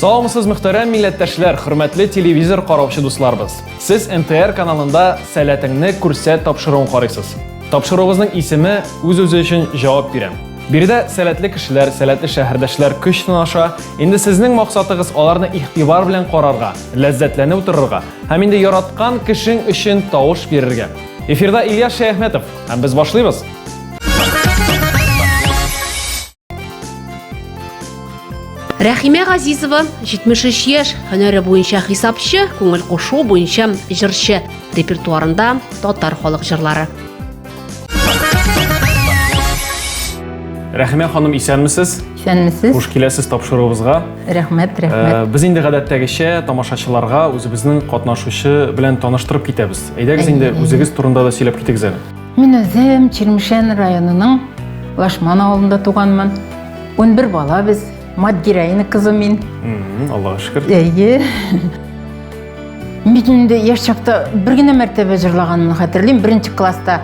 Саламсыз мөхтәрәм милләттәшләр, хөрмәтле телевизор караучы дусларыбыз. Сез НТР каналында сәләтеңне күрсәт тапшыруын карыйсыз. Тапшыруыгызның исеме үз-үзе өчен җавап бирә. Биредә сәләтле кешеләр, сәләтле шәһәрдәшләр көч сынаша. Инде сезнең максатыгыз аларны игътибар белән карарга, ләззәтләнеп утырырга һәм инде яраткан кешең өчен тавыш бирергә. Эфирда Ильяс Шәяхметов һәм без башлыйбыз. Рәхимә Газизова 73 яшь, һөнәре буенча хисапчы, күңел кушу буенча җырчы, репертуарында татар халык җырлары. Рәхимә ханым, исәнмесез? Исәнмесез. Хуш киләсез тапшыруыбызга. Рәхмәт, э, рәхмәт. Ә, без инде гадәттәгечә тамашачыларга үзебезнең катнашучы белән таныштырып китәбез. Әйдәгез инде үзегез турында да сөйләп китегез әле. Мин үзем Чирмешән районының Лашман авылында туганмын. 11 бала без. Мат героина кызы мин. Аллаға шөкер. Әйе. Мин инде яшь чакта бер генә мәртәбә җырлаганымны хәтерлим. Беренче класста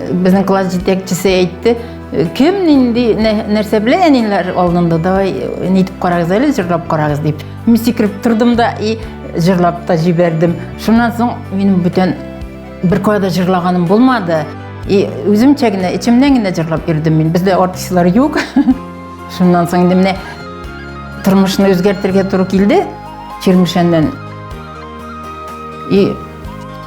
безнең класс җитәкчесе әйтте, кем нинди нәрсә белә әниләр алдында давай нитеп карагыз әле җырлап карагыз дип. Мин сикереп тордым да и җырлап та җибәрдем. Шуннан соң минем бүтән бер кайда җырлаганым булмады. И үземчә генә, эчемнән генә җырлап йөрдем мин. Бездә артистлар юк. Шуннан соң инде менә тормышны үзгәртергә туры килде Чермешәннән. И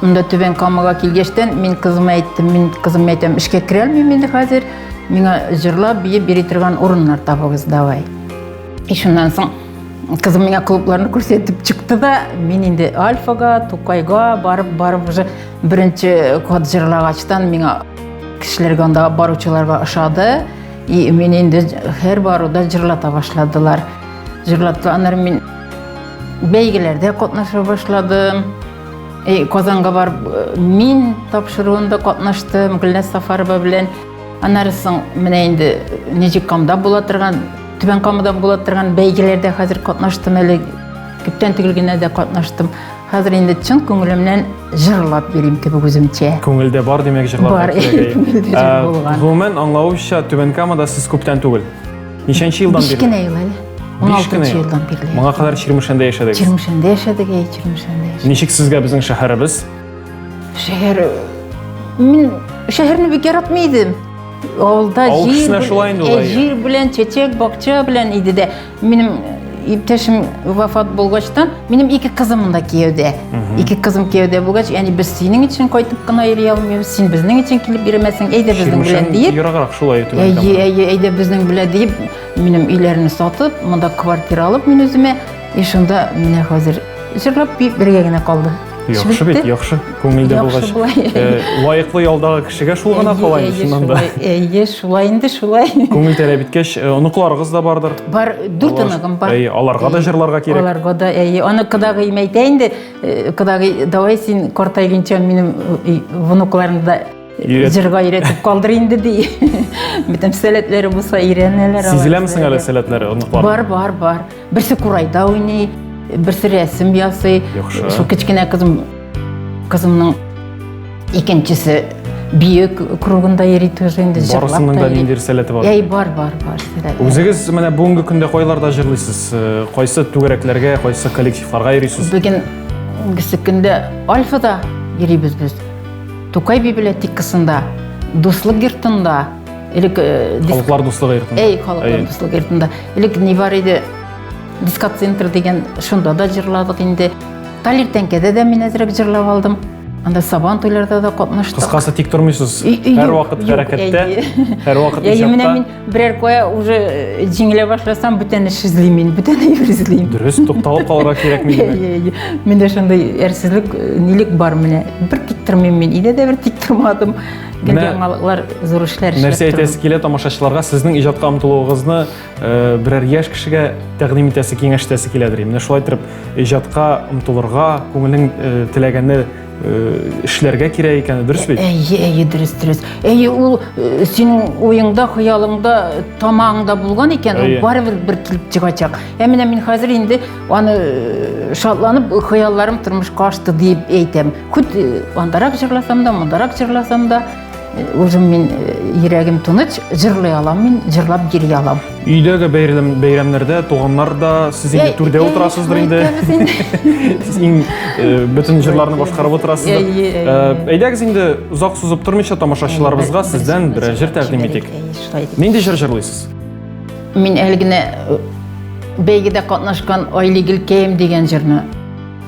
монда Түбән Камага килгәчтән мин кызыма әйттем, мин кызыма әйтәм, эшкә керә алмыйм инде хәзер. Миңа җырлап, биеп бери торган урыннар табыгыз, давай. И шуннан соң кызым миңа клубларны күрсәтеп чыкты да, мин инде Альфага, Тукайга барып, барып уже беренче код җырлагачтан миңа кешеләргә анда баручыларга ошады. И мен инде һәр баруда җырлата башладылар. Җырлаталар мин бәйгеләрдә катнаша башладым. И Казанга бар мин тапшыруында катнаштым Гөлнәс Сафарова белән. Аннары соң менә инде Нижикамда була торган, Түбән Камада була торган бәйгеләрдә хәзер катнаштым әле. Күптән түгел генә дә катнаштым. Хәзер инде чын күңелемнән җырлап йөрим кебек үземчә. Күңелдә бар димәк җырларга кирәк. Бар. Гомумән аңлавымча Түбән Камада сез күптән түгел. Ничәнче елдан бирле? Кечкенә ел әле. 16 елдан бирле. Моңа кадәр Чирмешәндә яшәдегез. Чирмешәндә яшәдек, әй, Чирмешәндә яшәдек. Ничек сезгә безнең шәһәребез? Шәһәр Мин шәһәрне бик яратмый идем. Авылда җир, шулай инде ул. Җир белән, чәчәк, бакча белән иде дә. Минем иптәшем вафат булгачтан, минем ике кызым монда кияүдә. Ике кызым кияүдә булгач, яни без синең өчен кайтып кына йөри алмыйбыз, син безнең өчен килеп йөрмәсең, әйдә безнең белән диеп. Ераграк шулай итеп. Әйе, әйе, әйдә безнең белән диеп, минем өйләрне сатып, монда квартира алып мин үземә, и шунда менә хәзер җырлап бергә генә калды. Яхшы бит, яхшы. Күңелдә булгач, э, лаеклы ялдагы кешегә шул гына кала инде шуннан да. Әйе, шулай инде, шулай. Күңел тәләп иткәч, э, оныкларыгыз да бардыр. Бар, дүрт оныгым бар. Әйе, аларга да җырларга кирәк. Аларга да, әйе. Аны кадагы имәйтә инде, э, кадагы, давай син картайгынча минем внукларымны да җырга өйрәтеп калдыр инде ди. Бөтен сәләтләре булса өйрәнәләр алар. Сизеләме соң әле сәләтләре оныклар? Бар, бар, бар. Берсе курайда уйный, берсе рәсем ясый. Яхшы. Шул кечкенә кызым кызымның икенчесе бию кругында йөри тоже инде җырлап барысының да ниндидер сәләте бар әй бар бар бар сәләте үзегез менә бүгенге көндә кайларда җырлыйсыз э, кайсы түгәрәкләргә кайсы коллективларга йөрисез бүген бүгенге көндә альфада йөрибез без тукай библиотекасында дуслык йортында Элек халыклар дуслыгы йортында. Әй, халыклар дуслыгы йортында. Элек ни бар иде? Дискоцентр дигән шунда да җырладык инде. Талир тәңкәдә дә мин әзрәк җырлап алдым. Анда сабан туйларда да катнаштык. Кыскасы тик тормыйсыз. Һәр вакыт хәрәкәттә, һәр вакыт ижатта. Менә мин берәр кая уже э, җиңелә башласам, бүтән эш эзлим мин, бүтән әйбер эзлим. Дөрес, тукталып калырга кирәкми димәк. Миндә шундый әрсезлек, э, нилек бар менә. Бер тик тормыйм мин, өйдә дә бер тик тормадым. Гел яңалыклар, зур эшләр эшләп Нәрсә әйтәсе килә тамашачыларга, сезнең иҗатка омтылуыгызны э, берәр яшь кешегә тәкъдим итәсе, киңәштәсе киләдер. Менә шулай итеп иҗатка омтылырга, күңелең э, теләгәнне э, эшләргә кирәк икәне дөрес бит? Әйе, әйе, дөрес, дөрес. Әйе, ул синең уеңда, хыялыңда, тамагыңда булган икән, ул барыбер бер килеп чыгачак. Ә менә мин хәзер инде аны шатланып, хыялларым тормышка ашты дип әйтәм. Күт андарак җырласам да, мондарак җырласам да, үзем мин йөрәгем тыныч, җырлый алам мин, җырлап йөри алам. Өйдәге бәйрәм бәйрәмнәрдә туганнар да сез инде түрдә утырасыздыр инде. Сез иң бөтен җырларны башкарып утырасыздыр. Әйдәгез инде озак сузып тормыйча тамашачыларыбызга сездән берәр җыр тәкъдим итик. Нинди җыр җырлыйсыз? Мин әле генә бәйгедә катнашкан Айлигел кәем дигән җырны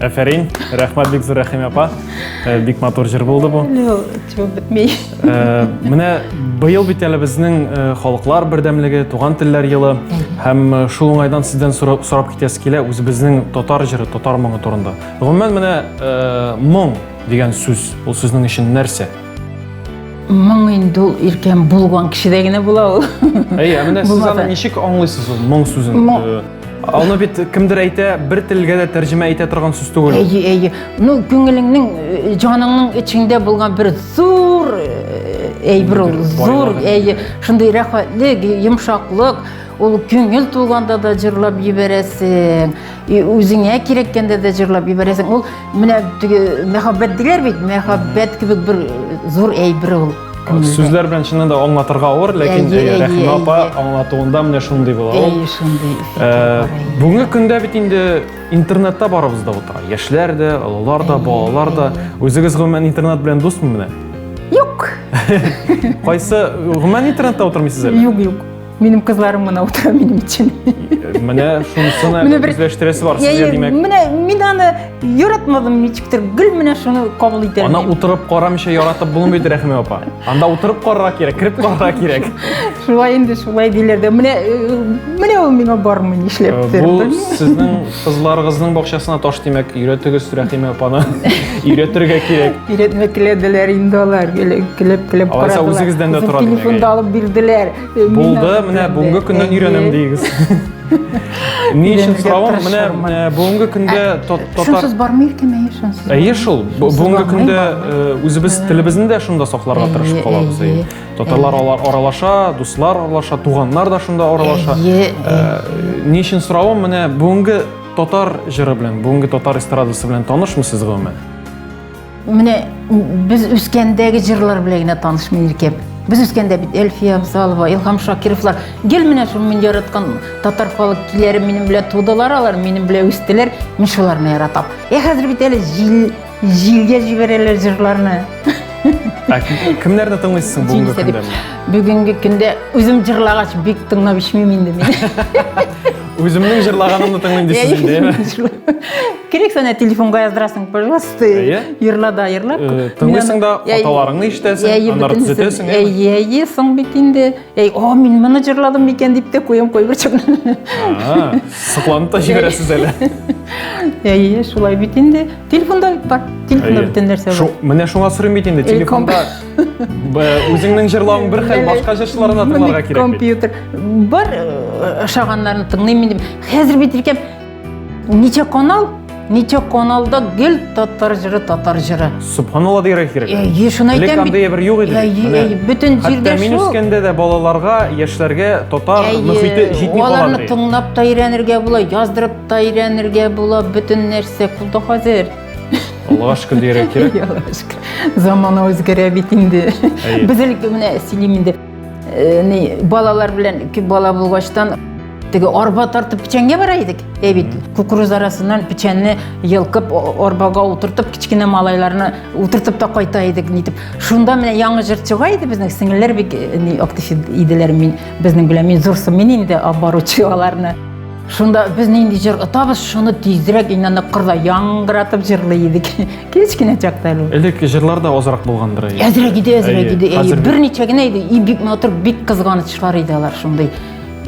Әфәрин, рәхмәт бик зур Рәхимә апа. Э, бик матур җыр булды бу. Түбәп бетмей. Э, менә быел бит әле безнең э, халыклар бердәмлеге, туган телләр елы һәм шул уңайдан сездән сорап китәсе килә үзебезнең татар җыры, татар моңы турында. Гомумән менә моң дигән сүз, ул сезнең өчен нәрсә? моң инде ул иркен булган кешедә генә була ул әйе ә менә сез аны ничек аңлыйсыз ул моң сүзен аны бит кемдер әйтә бер телгә дә тәрҗемә итә торган сүз түгел әйе әйе ну күңелеңнең э, җаныңның эчеңдә булган бер зур э, әйбер ул зур әйе шундый рәхәтлек йомшаклык Ул күңел тулганда да җырлап җибәрәсең, үзеңә кирәккәндә дә җырлап җибәрәсең. Ул менә теге мәхәббәт диләр бит, мәхәббәт кебек бер зур әйбер ул. Сүзләр белән чыннан да аңлатырга авыр, ләкин Рәхимә апа аңлатуында менә шундый була. Әй, шундый. Э, бүгенге көндә бит инде интернетта барыбыз да утыра. Яшьләр дә, олылар да, балалар да. Үзегез гомумән интернет белән дусмы менә? Юк. Кайсы гомумән интернетта утырмыйсыз әле? Юк, юк. Минем кызларым мына утыра минем өчен. Менә шунысына үзләштерәсе бар сезгә димәк. Менә мин аны яратмадым ничектер, гел менә шуны кабул итәм. Ана утырып карамыйча яратып булмый бит Рәхимә апа. Анда утырып карарга кирәк, кирип карарга кирәк. Шулай инде, шулай диләр дә. Менә менә ул миңа бармый нишләптер. Бу сезнең Кызларыгызның бакчасына таш тимәк, өйрәтегез Рәхимә апаны. Өйрәтергә кирәк. Өйрәтмәк теләделәр инде алар. Килеп, килеп Алайса үзегездән дә тора димәк. Телефонда алып бирделәр. Э, Булды, менә бүгенге көннән өйрәнәм дигез. Ни өчен соравым, менә э, бүгенге көндә ә, татар... Шунсыз бармый икеме, шунсыз. Әйе шул, бүгенге көндә э, үзебез телебезне дә шунда сакларга тырышып калабыз. Татарлар алар аралаша, дуслар аралаша, туганнар да шунда аралаша. Ни өчен соравым, менә бүгенге татар җыры белән, бүгенге татар эстрадасы белән танышмысыз гомумән? Менә без үскәндәге җырлар белән генә танышмын иркәм. Без үскәндә бит Эльфия Абзалова, Илһам Шакировлар, гел менә шул мин яраткан татар халык киләре минем белән тудылар алар, минем белән үстеләр, мин шуларны яратам. Ә хәзер бит әле җил Җилгә җибәрәләр җырларны. Ә кем- кемнәрне тыңлыйсың бүгенге Җил көндә? сәлим. Бүгенге көндә үзем җырлагач бик тыңлап ишмим инде мин. Үземнең җырлаганымны тыңлыйм дисез инде, әйме? Керек сәнә телефонга яздырасың, пожалуйста. Әйе. Ерла да ерлап. Э, тыңлыйсың да, аталарыңны ишетәсең, аннары төзәтәсең, әйме? Әйе, әйе, соң бит инде. Эй, о, мин моны җырладым микән дип тә куям кайбер чакта. Сокланып та җибәрәсез әле. Әйе, шулай бит инде. Телефонда бар, телефонда бөтен нәрсә бар. Менә шуңа сорыйм бит инде, телефонда үзеңнең җырлавың бер хәл, башка җырчыларны тыңларга кирәк. Компьютер бар ошаганнарын тыңлыйм инде. Хәзер бит икән Ничә канал? Ничә каналда гел татар җыры, татар җыры. Субханалла дигән Э, кирәк. е, шуны Элек әйтәм бит. андый бер юк иде. Э, бит. е, Менә. е, бөтен Хәтта җирдә мин шул. үскәндә дә балаларга, яшьләргә татар Әйе, мөхите җитми кала аларны ди. тыңлап та өйрәнергә була, яздырып та өйрәнергә була, бөтен нәрсә кулда хәзер. Аллага шөкер дигән кирәк. Замана үзгәрә бит инде. Әйе. Без әле менә сөйлим инде. Э, балалар белән ике бала булгачтан теге арба тартып печәнгә бара идек ә бит кукуруз арасыннан печәнне йылкып арбага утыртып кечкенә малайларны утыртып та кайта идек нитеп шунда менә яңы җыр чыга иде безнең сеңелләр бик э, актив иделәр мин безнең белән мин зурсы мин инде баручы аларны Шунда без нинди җыр отабыз, шуны тизрәк инанып кырда яңгыратып җырлый идек. Кечкенә чакта әле. Элек җырлар да азрак булгандыр. Әзрәк иде, әзрәк иде. Берничә генә иде, и бик матур, бик кызганычлар иде алар шундый.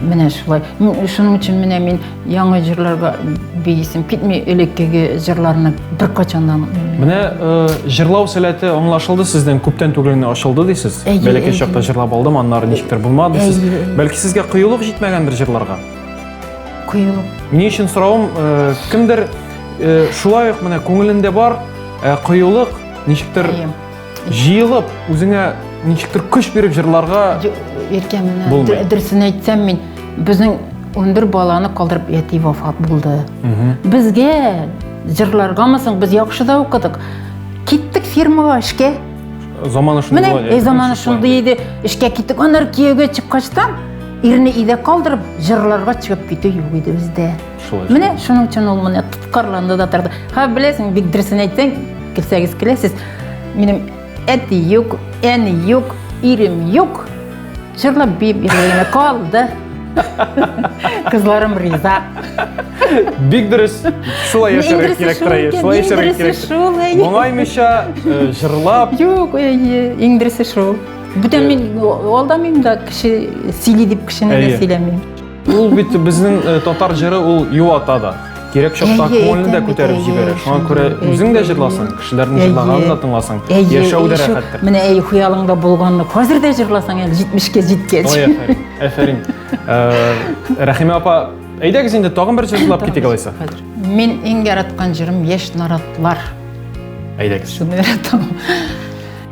Менә шулай. Шуның өчен менә мин яңа җырларга бейсем китми, элеккеге җырларны беркайчан да Менә э, җырлау сәләте аңлашылды сездән, күптән түгел генә ачылды дисез. Бәләкәй чакта җырлап алдым, аннары ничектер булмады дисез. Бәлки сезгә кыюлык җитмәгәндер җырларга? Коелу. Ни өчен соравым, э, кемдер э, шулай ук менә күңелендә бар, э, коелык ничектер җыелып, үзеңә ничектер көч биреп җырларга Иркә, менә дөресен әйтсәм мин, безнең 11 баланы калдырып яти вафат булды. Безгә җырларгамы соң без яхшы да укыдык. Киттек фирмага эшкә. Заманы шундый. Менә заманы шундый иде. Эшкә киттек. Аннары кияүгә чыккачтан Ирне өйдә калдырып, җырларга чыгып китү юк иде бездә. Шулай. Менә шуның өчен ул менә тоткарланды да торды. Ха, беләсең, бик дөресен әйтсәң, килсәгез киләсез. Минем әти юк, әни юк, ирем юк. Җырлап биеп йөргәнемә калды. Кызларым риза. Бик дөрес. Шулай яшәргә кирәк тора. Шулай яшәргә кирәк. Моңаймыйча э, җырлап. Юк, э, иң дөресе шул. бүтән мин алдамыйм да кеше сөйли дип кешене дә сөйләмим ул бит безнең э, татар җыры ул юата да кирәк чакта күңелне дә күтәреп җибәрә шуңа күрә үзең дә җырласаң кешеләрнең җырлаганын да тыңласаң яшәү дә рәхәттер менә әй хыялыңда булганны хәзер дә җырласаң әле җитмешкә җиткәч ой афәрин афәрин э, рәхимә апа әйдәгез инде тагын бер җыр җырлап китик алайса мин иң яраткан җырым яшь наратлар әйдәгез шуны яратам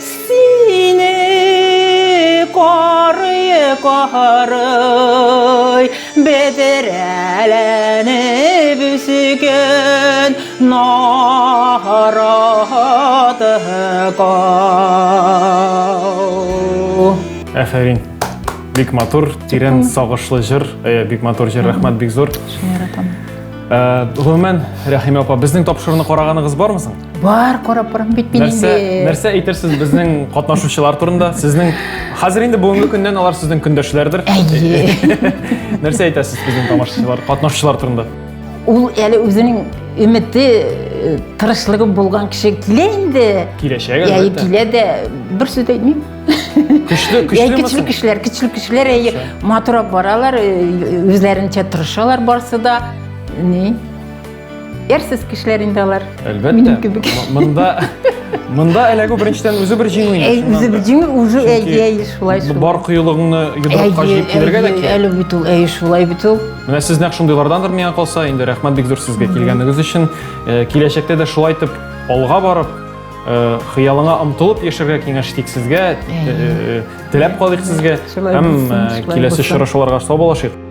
Сине карый-карый бедрәләнеп үсгән наратыкау. Әфәрин. Бик матур, тирән сагышлы җыр, э, бик матур җыр, рәхмәт бик зур. Шуны яратам. Э, Гомумән, Рәхимә апа, безнең тапшыруны караганыгыз бармы соң? бар карап барам бит мин нәрсә инде нәрсә әйтерсез безнең катнашучылар турында сезнең хәзер инде бүгенге көннән алар сезнең көндәшләрдер әйе нәрсә әйтәсез безнең тамашачылар катнашучылар турында ул әле үзенең өмете э, тырышлыгы булган кеше килә инде киләчәк әйе килә дә бер сүз әйтмим көчле көчле көчле кешеләр көчле кешеләр әйе матуррак баралар э, үзләренчә тырышалар барысы да ни Ярсыз кешеләр инде алар. Әлбәттә. Минем кебек. Монда Монда эләгү беренчедән үзе бер җиңү инде. Әй, үзе бер җиңү, уже әй, әй, шулай шулай. Бар кыюлыгыңны йодрыкка җыеп килергә дә кирәк. Әле бит ул, әй, шулай бит ул. Менә сез нәкъ шундыйлардандыр миңа калса, инде рәхмәт бик зур сезгә килгәнегез өчен. Э, киләчәктә дә шулай итеп алга барып, э, хыялыңа омтылып яшәргә киңәш итик сезгә. Э, теләп калыйк сезгә һәм киләсе очрашуларга сау булашыйк.